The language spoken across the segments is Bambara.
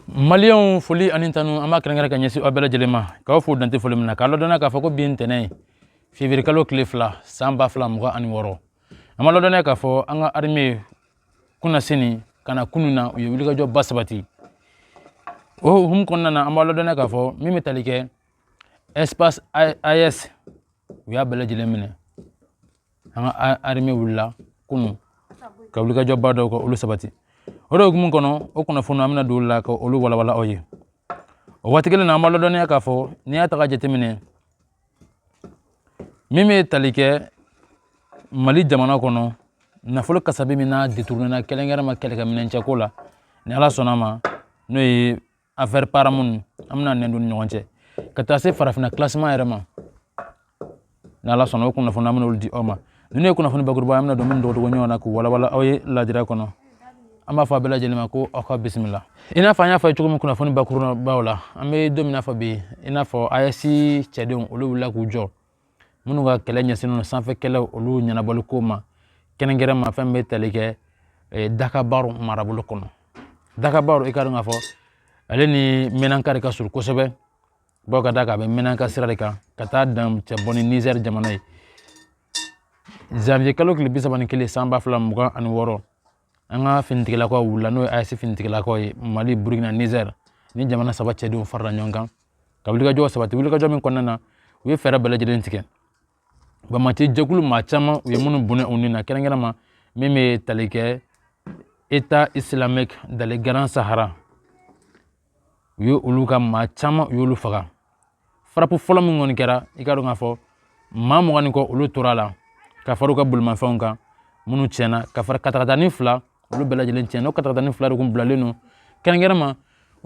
maliyɛnw foli ani tanu an b'a kɛrɛnkɛrɛn ka ɲɛsin aw bɛɛ lajɛlen ma k'aw fo dan tɛ foli min na k'a ladɔnniya k'a fɔ ko bi ye ntɛnɛn ye fevrier kalo tile fila san ba fila mugan ani wɔɔrɔ an b'a ladɔnniya k'a fɔ an ka arime kunasinin ka na kunun na u ye wulikajɔba sabati o hukumu kɔnɔna na an b'a ladɔnniya k'a fɔ min bɛ tali kɛ espace aes u y'a bɛɛ lajɛlen minɛ an ka arime wulila kunu ka wulikajɔba dɔw ka olu sabati o de hukumu kɔnɔ o kunnafoni an bɛna don la ka olu walawala aw ye o waati kelen na an b'a ladɔnniya k'a fɔ n'i y'a ta k'a jateminɛ min bɛ tali kɛ mali jamana kɔnɔ nafolo kasabi min n'a deturunena kɛrɛnkɛrɛn ma kɛlɛkɛminɛncɛko la ni ala sɔnna ma n'o ye afɛri paramu an bɛna nɛn don ni ɲɔgɔn cɛ ka taa se farafinna kilasiman yɛrɛ ma ni ala sɔnna o kunnafoni an bɛna olu di aw ma ninnu ye kunnafoni bakuruba ye an bɛna don minnu dɔgɔdɔgɔninw na k'u walawala aw ye lajira kɔnɔ an b'a fɔ aw bɛɛ lajɛlen ma ko aw ka bisimila i n'a fɔ an y'a fɔ cogo min kunnafoni bakurubaw la an bɛ don min na fɔ bi i n'a fɔ ayɛsi cɛdenw olu wulila k'u jɔ minnu ka kɛlɛ ɲɛsinnen sanfɛ kɛlɛ olu ɲɛnabɔliko ma kɛrɛnkɛrɛn ma fɛn bɛ tali kɛ eh, dakabaru marabolo kɔnɔ dakabaru i k'a dɔn k'a fɔ ale ni mɛnanka de ka surun kosɛbɛ bawo k'a d'a kan a bɛ mɛnanka sira de kan ka taa dancɛ bɔ ni nizɛri jamana ye zanviye kalo tile bi saba ni kelen san ba fila mugan ani wɔɔrɔ an ka finitigilakaw wulila n'o ye ayɛsi finitigilakaw ye mali burukina nizɛri ni jamana saba cɛdenw farala ɲɔgɔn kan ka wulikajɔ sabati wulikajɔ min kɔnɔna na u ye fɛɛrɛ bɛɛ lajɛlen tigɛ banbaanci jɛkulu maa caman u ye minnu bɔnɛ u ni na kɛrɛnkɛrɛnma min bɛ tali kɛ etat islamique dans le grand sahara u ye olu ka maa caman u y'olu faga farapu fɔlɔ min kɔni kɛra i k'a dɔn k'a fɔ maa mugan ni kɔ olu tora a la ka fara u ka bolimafɛnw kan minnu tiɲɛna ka fara katakatani fila olu bɛɛ lajɛlen tiɲɛna o katakatani fila de kun bilalen don kɛrɛnkɛrɛnma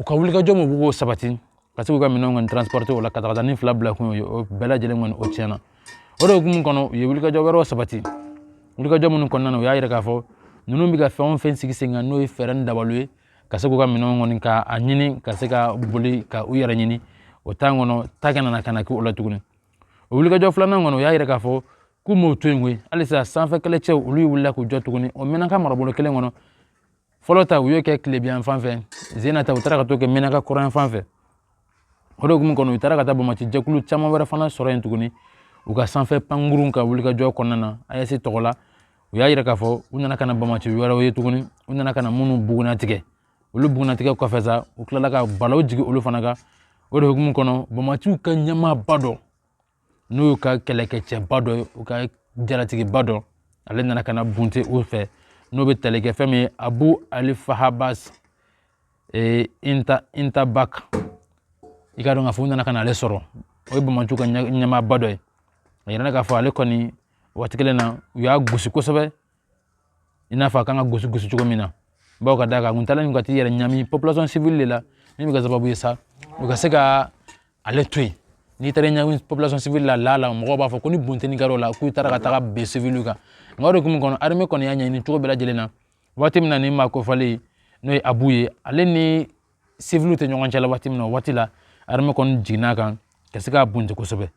u ka wulikajɔ min b'o sabati ka se k'u ka minɛnw kɔni transporte o la katakatani fila bila kun ye o bɛɛ lajɛlen kɔni o tiɲɛna o de hukumu kɔnɔ u ye wulikajɔ wɛrɛw sabati wulikajɔ minnu kɔnɔna na u y'a yira k'a fɔ ninnu bɛ ka fɛn o fɛn sigi sen kan n'o ye fɛɛrɛ ni dabaliw ye ka se k'u ka minɛnw kɔni ka a ɲini ka se ka boli ka u yɛrɛ ɲini o tan kɔnɔ ta kana na ka na kɛ o la tuguni o wulikajɔ filanan kɔnɔ u y'a yira k'a fɔ k'u m'o to yen koyi halisa sanfɛ kɛlɛcɛw olu wulila k'u jɔ tuguni o mɛnaka marabolo kelen kɔnɔ fɔlɔ ta u y'o kɛ tilebinyanfan fɛ zena ta u taara ka t'o kɛ mɛnaka kɔrɔnyanfan fɛ o de hukumu kɔnɔ u taara ka taa banbaanci jɛkulu caman wɛrɛ fana sɔrɔ yen tuguni u ka sanfɛ pankurun ka wulikajɔ kɔnɔna na ayɛsi tɔgɔ la u y'a yira k'a fɔ u nana ka na banbaanci wɛrɛw ye tuguni u nana ka na minnu bugunnatigɛ olu bugunnatigɛ kɔfɛ sa u tilala ka balaw jigin olu fana kan o de hukumu kɔnɔ banbaanciw ka ɲɛmaaba dɔ n'o y'u ka kɛlɛkɛcɛba dɔ ye u ka jalatigiba dɔ ale nana ka na bunte u fɛ n'o bɛ tali kɛ fɛn min ye abu ali fahabas ee, inta intabak i ka dɔn k'a fɔ u nana ka na ale sɔrɔ o ye bamaciw ka ɲɛmaaba dɔ ye a yirala k'a fɔ ale kɔni waati kelen na u y'a gosi kosɛbɛ i n'a fɔ a kan ka gosi gosi cogo min na bawo ka d'a kan kuntaala min ka t'i yɛrɛ ɲami population civile de la min bɛ kɛ sababu ye sa u ka se ka ale to yen n'i taara ɲagami population civile la la la mɔgɔw b'a fɔ ko ni bunteni kɛra o la k'u taara ka taga bin siviliw kan nka o de hukumu kɔnɔ armée kɔni y'a ɲɛɲini cogo bɛɛ lajɛlen na waati min na nin maa kofɔlen n'o ye abu ye ale ni siviliw tɛ ɲɔgɔn cɛla waati min na o waati la armée kɔni jiginna a kan ka se k'a bunte kosɛbɛ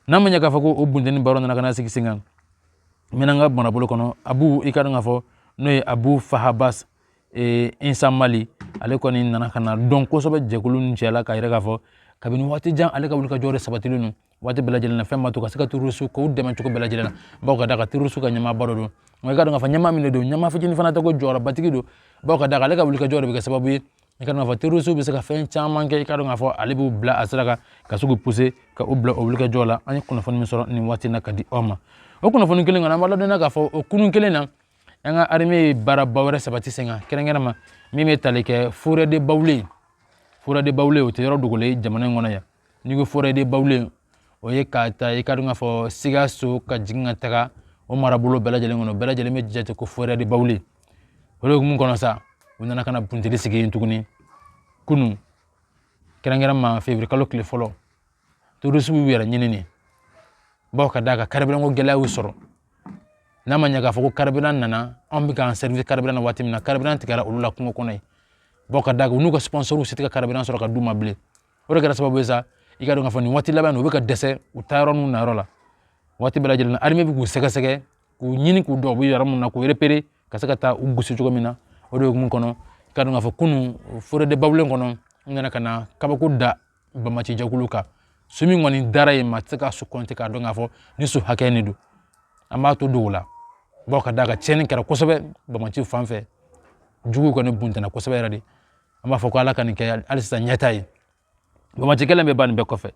n'a ma ɲɛ k'a fɔ ko o bunteni baaraw nana ka na sigi sen kan menaka marabolo kɔnɔ abu i ka dɔn k'a fɔ n'o ye abu fahabas eh, insa mali ale kɔni nana ka na dɔn kosɛbɛ jɛkulu ninnu cɛla k'a yira k'a fɔ kabini waati jan ale ka wulikajɔ de sabatilen don waati bɛɛ lajɛlen na fɛn ma to ka se ka tɛrɔrisiw k'u dɛmɛ cogo bɛɛ lajɛlen na bawo ka d'a kan tɛrɔrisiw ka ɲɛmaaba dɔ don nka i ka dɔn k'a fɔ ɲɛmaa min de don ɲɛmaa fitinin fana tɛ ko jɔyɔrɔbatigi don bawo ka d'a kan ale ka wulikajɔ de bɛ kɛ sababu ye i ka dɔn k'a fɔ tɛrɔrisiw bɛ se ka fɛn caman kɛ i ka dɔn k'a fɔ ale b'u bila a sira kan ka se k'u puse ka u bila o wulikajɔ la an ye kunnafoni min sɔrɔ nin waati in na k'a di aw ma o kunnafoni kelen kɔnɔ an b'a ladɔnniya k'a fɔ o kunun kelen na an ka armée ye baaraba wɛrɛ sabati sen kan kɛrɛnkɛrɛnma min bɛ tali kɛ forêt de baoulé forêt de baoulé o tɛ yɔrɔ dogolen jamana in kɔnɔ yan n'i ko forêt de baoulé o ye k'a ta i ka dɔn k'a fɔ sikaso ka jigin ka taga o marabolo bɛɛ lajɛlen kɔnɔ bɛɛ lajɛlen bɛ jate ko forêt de baoulé o de hukumu kɔnɔ sa u nana ka na bunteni sigi yen tuguni kunun kɛrɛnkɛrɛnma février kalo tile fɔlɔ tɛrɔrisiw y'u yɛrɛ ɲini nin bawo ka d'a kan carburant ko gɛlɛya y'u sɔrɔ n'a ma ɲɛ k'a fɔ ko carburant nana anw bɛ k'an servi carburant na waati min na carburant tigɛra olu la kungo kɔnɔ yen bawo ka d'a kan u n'u ka sponsorw se tɛ ka carburant sɔrɔ k'a d'u ma bilen o de kɛra sababu ye sa i ka dɔn k'a fɔ nin waati laban u bɛ ka dɛsɛ u taa yɔrɔ n'u na yɔrɔ la waati bɛɛ lajɛlen na armée bɛ k'u sɛgɛsɛgɛ k'u ɲini k'u dɔn u bɛ yɔrɔ min na k'u repérer ka se ka taa u gosi cogo min na o de hukumu kɔnɔ i ka dɔn k'a fɔ kunun forêt de baoulé kɔnɔ n nana ka na kabako da bamaci jɛkulu kan su min kɔni dara yen maa tɛ se ka su kɔnte k'a dɔn k'a fɔ ni su hakɛ de don an b'a to don o la bawo ka d'a kan tiɲɛni kɛra kosɛbɛ bamaciw fan fɛ juguw kɔni buntana kosɛbɛ yɛrɛ de an b'a fɔ ko ala ka nin kɛ hali sisan ɲɛta ye bamaci kɛlɛ bɛ ban nin bɛɛ kɔfɛ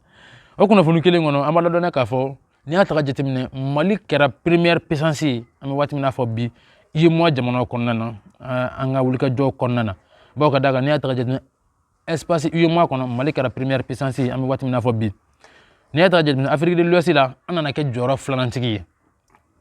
o kunnafoni kelen kɔnɔ an b'a ladɔnniya k'a fɔ n'i y'a ta ka jateminɛ mali kɛra première puissance ye an bɛ waati min na fɔ bi uemoa jamanaw kɔnɔna na an ka wulikajɔ kɔnɔna na bawo ka d'a kan n'i y'a ta ka jateminɛ espace uemoa kɔnɔ mali kɛra première puissance ye an bɛ waati min na fɔ bi n'i y'a ta ka jateminɛ afrique de l'ouest la an nana kɛ jɔyɔrɔ filanantigi ye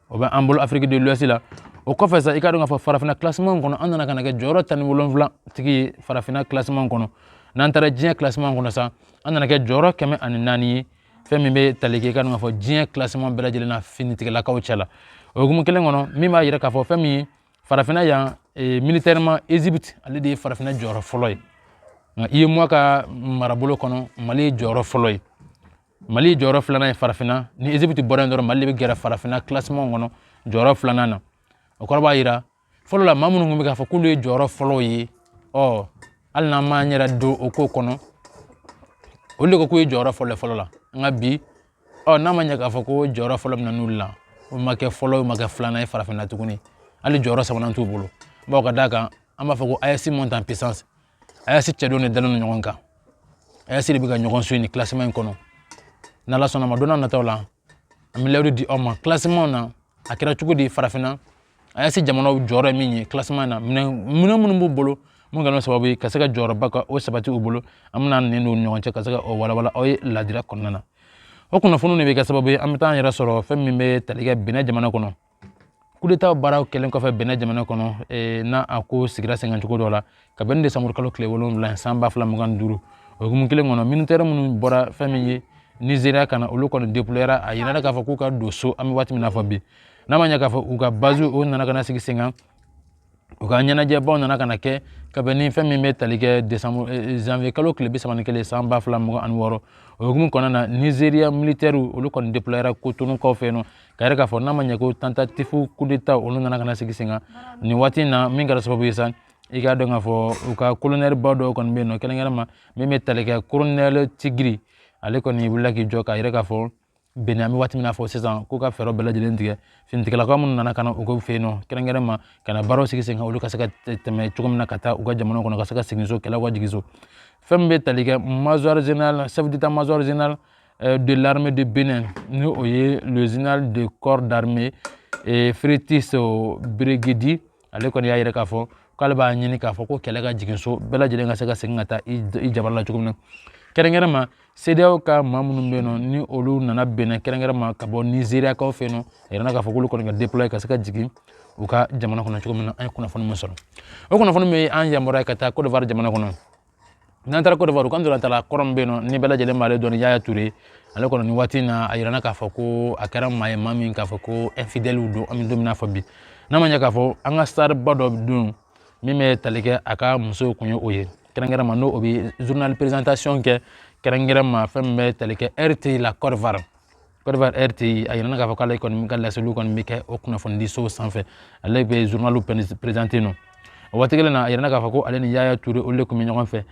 o bɛ an bolo Afrique de l'Ouest la o kɔfɛ sa i ka dɔn k'a fɔ farafinna kilasiman kɔnɔ an nana ka na kɛ jɔyɔrɔ tan ni wolonwula tigi ye farafinna kilasiman kɔnɔ n'an taara diɲɛ kilasiman kɔnɔ sa an nana kɛ jɔyɔrɔ kɛmɛ ani naani ye fɛn min bɛ tali kɛ i ka dɔn k'a fɔ diɲɛ kilasiman bɛɛ lajɛlen na finitigilakaw cɛ la o hukumu kelen kɔnɔ min b'a yira k'a fɔ fɛn min ye farafinna yan e, militairement ezipiti ale de ye farafinna jɔyɔrɔ fɔlɔ ye nka UEMOA ka marabolo kɔnɔ mali ye jɔyɔrɔ fɔlɔ ye mali ye jɔyɔrɔ filanan ye farafinna ni ezipiti bɔra yen dɔrɔn mali de bɛ gɛrɛ farafinna kilasiman kɔnɔ jɔyɔrɔ filanan na o kɔrɔ b'a yira fɔlɔ la maa minnu tun bɛ k'a fɔ k'olu ye jɔyɔrɔ fɔlɔw ye ɔ hali n'an m'an yɛrɛ don o ko kɔnɔ olu de ko k'u ye jɔyɔrɔ fɔlɔ fɔlɔ la nka bi ɔ n'a ma ɲɛ k'a fɔ ko jɔyɔrɔ fɔlɔ bɛ na n'olu la o ma kɛ fɔlɔ o ma kɛ filanan ye farafinna tuguni hali jɔyɔrɔ sabanan t'u bolo bawo ka d'a kan an b'a fɔ ko AES monte en puissance AES cɛdenw de dalen don ɲɔgɔn kan AES de bɛ ka ɲɔgɔn suit nin kilasiman in kɔnɔ n'ala sɔnna a ma don nataw la an bɛ layidu di aw ma kilasiman na a kɛra cogo di farafinna AES jamanaw jɔyɔrɔ ye min ye kilasiman in na minɛn minnu b'u bolo mun kɛra sababu ye ka se ka jɔyɔrɔba ka o sabati u bolo an bɛna nin don ɲɔgɔn cɛ ka se ka o walawala aw ye ladira kɔnɔna na o kunnafoniw de bɛ kɛ sababu ye an bɛ taa an yɛrɛ sɔrɔ fɛn min bɛ tali kɛ Bénin jamana kɔnɔ kudeta baaraw kɛlen kɔfɛ Bénin jamana kɔnɔ eh, n'a a ko sigira sen kan cogo dɔ la ka bɛn ni desanburu kalo tile wolonwula san ba fila mugan ni duuru o hukumu kelen kɔnɔ militɛri minnu bɔra fɛn min ye nizeriya kana olu kɔni deployera a yirara k'a fɔ k'u ka don so an bɛ waati min na fɔ bi n'a ma ɲɛ k'a fɔ u ka baziw o nana ka na sigi sen kan u ka ɲɛnajɛbaw nana ka na kɛ ka bɛn ni fɛn min bɛ tali kɛ desanburu eh, eh, zanviye kalo tile bi saba ni kelen san ba fila mugan ani wɔɔrɔ o hukumu kɔnɔna na nizeriya militɛriw olu kɔni deployera kotonukaw fɛ yen nɔ k'a yira k'a fɔ n'a ma ɲɛ ko tantatifu kudeta olu nana ka na sigi sen kan nin waati in na min kɛra sababu ye sa i k'a dɔn k'a fɔ u ka kolonɛliba dɔw kɔni bɛ yen nɔ kɛrɛnkɛrɛnma min bɛ tali kɛ kolonɛli Tigri ale kɔni wulila k'i jɔ k'a yira k'a fɔ Bénin an bɛ waati min na fɔ sisan k'u ka fɛɛrɛ bɛɛ lajɛlen tigɛ finitigilakaw minnu nana ka na u ka fɛ yen nɔ kɛrɛnkɛrɛnma ka na baaraw sigi sen kan olu ka se ka tɛmɛ cogo min na ka taa u ka jamana kɔnɔ ka se ka segin so kɛlɛ ka jigin so fɛn min bɛ tali kɛ major général chef d'état-major général eh, de l'armée de Bénin ni o ye le général de corps d'armée eh, Fructueux Gbaguidi ale kɔni y'a yira k'a fɔ k'ale b'a ɲini k'a fɔ ko kɛlɛ ka jigin so bɛɛ lajɛlen ka se ka segin ka taa i jamana la cogo min na kɛrɛnkɛrɛnma CEDEAO ka maa minnu bɛ yen nɔ ni olu nana Bénin kɛrɛnkɛrɛnma ka bɔ nizeriyakaw fɛ yen nɔ a yirana k'a fɔ k'olu kɔni ka deploye ka se ka jigin u ka jamana kɔnɔ cogo min na an ye kunnafoni min sɔrɔ o kunnafoni bɛ an yamaruya ka taa kodowari jamana kɔnɔ n'an taara kodowari kan dɔrɔn star kɔrɔ min bɛ yen nɔ ni bɛɛ lajɛlen b'ale dɔn ni yaya ture ale kɔni nin waati in na a yirana k'a fɔ ko a kɛra maa ye maa min k'a fɔ ko infidɛliw don an bɛ don min na fɔ bi n'a ma ɲɛ k'a fɔ an ka starba dɔ de don min bɛ tali kɛ a ka musow kun ye o ye kɛrɛnkɛrɛnma n'o bɛ journal présentation kɛ kɛrɛnkɛrɛnma fɛn min bɛ tali kɛ RTI la kodowari Côte d'Ivoire RTI a yirana k'a fɔ k'ale kɔni ka laseliw kɔni bɛ kɛ o kunnafonidiso sanfɛ ale bɛ journal présenter nɔ o waati kelen na a yirana k'a fɔ ko ale ni Yaya Ture olu de tun bɛ ɲɔgɔn fɛ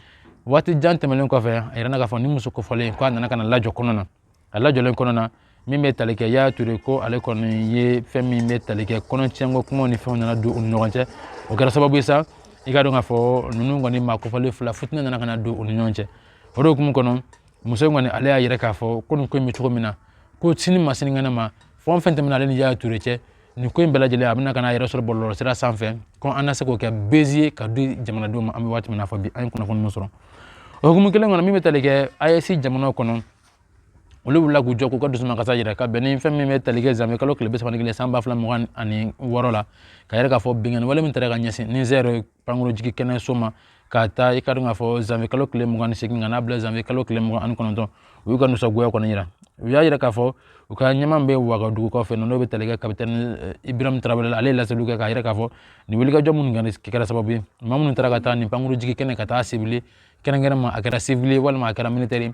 waati jan tɛmɛnen kɔfɛ a yirana k'a fɔ ni muso kofɔlen k'a nana ka na lajɔ kɔnɔ na a lajɔlen kɔnɔ na min bɛ tali kɛ Yaya Ture ko ale kɔni ye fɛn min bɛ tali kɛ kɔnɔtiɲɛko kumaw ni fɛnw nana don u ni ɲɔgɔn cɛ o kɛra sababu ye sa i ka dɔn k'a fɔ ninnu kɔni maa kofɔlen fila fitinɛ nana ka na don u ni ɲɔgɔn cɛ o de hukumu kɔnɔ muso in kɔni ale y'a yira k'a fɔ ko nin ko in bɛ cogo min na ko sini ma sininkɛnɛ ma fɛn o fɛn tɛmɛna ale ni yaya ture cɛ nin ko in bɛɛ lajɛlen a bɛna ka n'a yɛrɛ sɔrɔ bɔlɔlɔsira sanfɛ ko an na se k'o kɛ buzz ye ka di jamanadenw ma an bɛ waati min na fɔ bi an ye kunnafoni min sɔrɔ o hukumu kelen kɔnɔ min bɛ tali kɛ AES jamanaw kɔnɔ olu wulila k'u jɔ k'u ka dusumakasi jira ka bɛn ni fɛn min bɛ tali kɛ janvier kalo tile bi saba ni kelen san ba fila mugan ani wɔɔrɔ la k'a yira k'a fɔ binkanni wale min taara ka ɲɛsin nizɛri pankurunjigi kɛnɛ so ma k'a ta i ka dɔn k'a fɔ janvier kalo tile mugan ni segin ka n'a bila janvier kalo tile mugan ani kɔnɔntɔn u y'u ka nisɔngoya kɔni yira u y'a yira k'a fɔ u ka ɲɛmaa bɛ wagadugu kɔfɛ n'o bɛ tali kɛ kapitɛni eh, ibirahim Traoré ale ye laseliw kɛ k'a yira k'a fɔ nin wulikajɔ minnu kɛra sababu ye maa minnu taara ka taa nin pankurunjigi kɛnɛ ka taa cibler kɛrɛnkɛrɛn ma a kɛra sivili ye walima a kɛra militɛri ye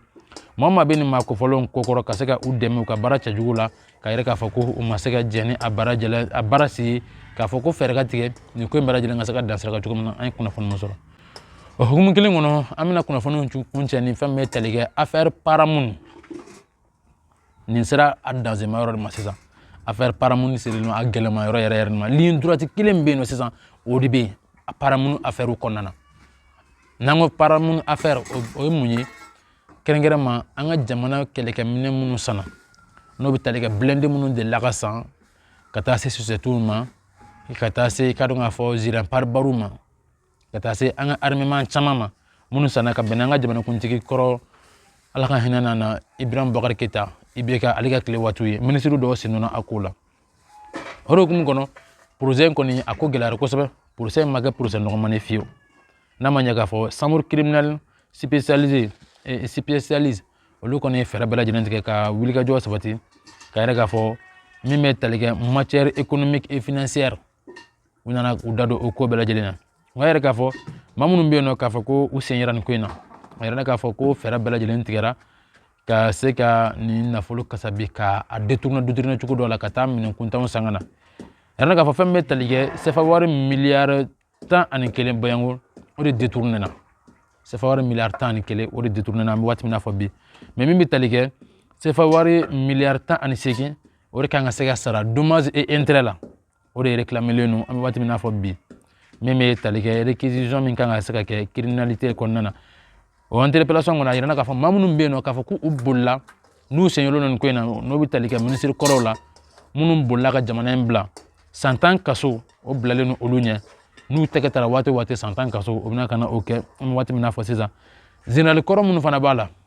maa maa bɛ nin maa kofɔlenw kɔkɔrɔ ka se ka u dɛmɛ u ka baara cɛjugu la k'a yira k'a fɔ ko u ma se ka jɛn ni a baara si ye k'a fɔ ko fɛɛrɛ ka tigɛ nin ko in bɛɛ lajɛlen ka se ka dan sira kan cogo min na an ye kunnafoni min sɔrɔ o hukumu kelen kɔnɔ an bɛna kunnafoniw kuncɛ ni fɛn min bɛ tali kɛ affaire Paramount nin sera a danzema yɔrɔ de ma sisan affaire Paramount sera a gɛlɛma yɔrɔ yɛrɛ yɛrɛ ma ligne droite kelen bɛ yen nɔ sisan o de bɛ yen a Paramount affaire kɔnɔna na n'an ko Paramount affaire o ye mun ye kɛrɛnkɛrɛn ma an ka jamana kɛlɛkɛminɛn minnu sanna n'o bɛ tali kɛ blindé minnu delila ka san ka taa se sosɛtiw ma ka taa se i ka dɔn k'a fɔ gilet pare-balles ma ka taa se an ka armement caman ma minnu sanna ka bɛn an ka jamanakuntigi kɔrɔ ala ka hinɛ a na ibrahim Boubacar Keita IBK ale ka tile waatiw ye minisiri dɔw sen donna a ko la o de hukumu kɔnɔ procès in kɔni a ko gɛlɛyara kosɛbɛ procès in ma kɛ procès nɔgɔman ye fiyewu n'a ma ɲɛ k'a fɔ chambre criminelle spécialisée eh, spécialisée olu kɔni ye fɛɛrɛ bɛɛ lajɛlen tigɛ ka wulikajɔ sabati k'a yira k'a fɔ min bɛ tali kɛ matière économique et financière u nana u da don o ko bɛɛ lajɛlen na o y'a yira k'a fɔ maa minnu bɛ yen nɔ k'a fɔ ko u sen yera nin ko in na a yira k'a fɔ ko fɛɛrɛ bɛɛ lajɛlen tigɛra ka se ka nin nafolo kasabi ka a détourner détourner cogo dɔ la ka taa minɛn kuntanw san ka na a yira k'a fɔ fɛn min bɛ tali kɛ sefa wari miliyari tan ani kelen bayanko o de détourner na sefa wari miliyari tan ani kelen o de détourner na an bɛ waati min na fɔ bi mais min bɛ tali kɛ sefa wari miliyari tan ani seegin o de kan ka se ka sara dommages et intérêts la o de réclamelen don an bɛ waati min na fɔ bi min bɛ tali kɛ réquisition min kan ka se ka kɛ criminalité kɔnɔna na o interpellation kɔnɔ a yirana k'a fɔ maa minnu bɛ yen nɔ k'a fɔ k'u bolila n'u sen yera nin ko in na n'o bɛ tali kɛ minisiri kɔrɔw la minnu bolila ka jamana in bila san tan kaso o bilalen don olu ɲɛ n'u tɛgɛ tara waati o waati san tan kaso o bɛna ka na o kɛ an bɛ waati min na fɔ sisan zenerali kɔrɔ minnu fana b'a la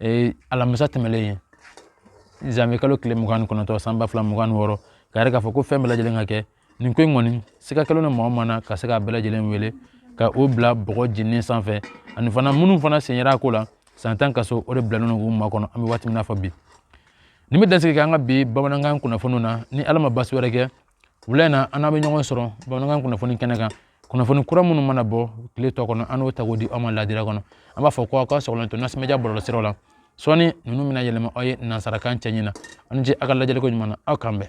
ee alamisa tɛmɛlen ye zanwuye kalo tile mugan ni kɔnɔntɔn san ba fila mugan ni wɔɔrɔ k'a yira k'a fɔ ko fɛn bɛɛ lajɛlen ka kɛ nin ko in kɔni sika kɛlen don maa o maa na ka se k'a bɛɛ lajɛlen wele ka o bila bɔgɔ jeninen sanfɛ ani fana minnu fana sen yera a ko la san tan kaso o de bilalen don k'u makɔnɔ an bɛ waati min na fɔ bi nin bɛ dansigi kɛ an ka bi bamanankan kunnafoniw na ni ala ma basi wɛrɛ kɛ wula in na an n'aw bɛ ɲɔgɔn sɔrɔ bamanankan kunnafoni kɛnɛ kan kunnafoni kura minnu mana bɔ tile tɔ kɔnɔ an n'o ta k'o di aw ma ladira kɔnɔ an b'a fɔ ko aw ka sɔgɔlen to Nas Media bɔlɔlɔsiraw la sɔɔni ninnu bɛna yɛlɛma aw ye nansarakan cɛɲi na aw ni ce aw ka lajɛliko ɲuman na aw k'an bɛn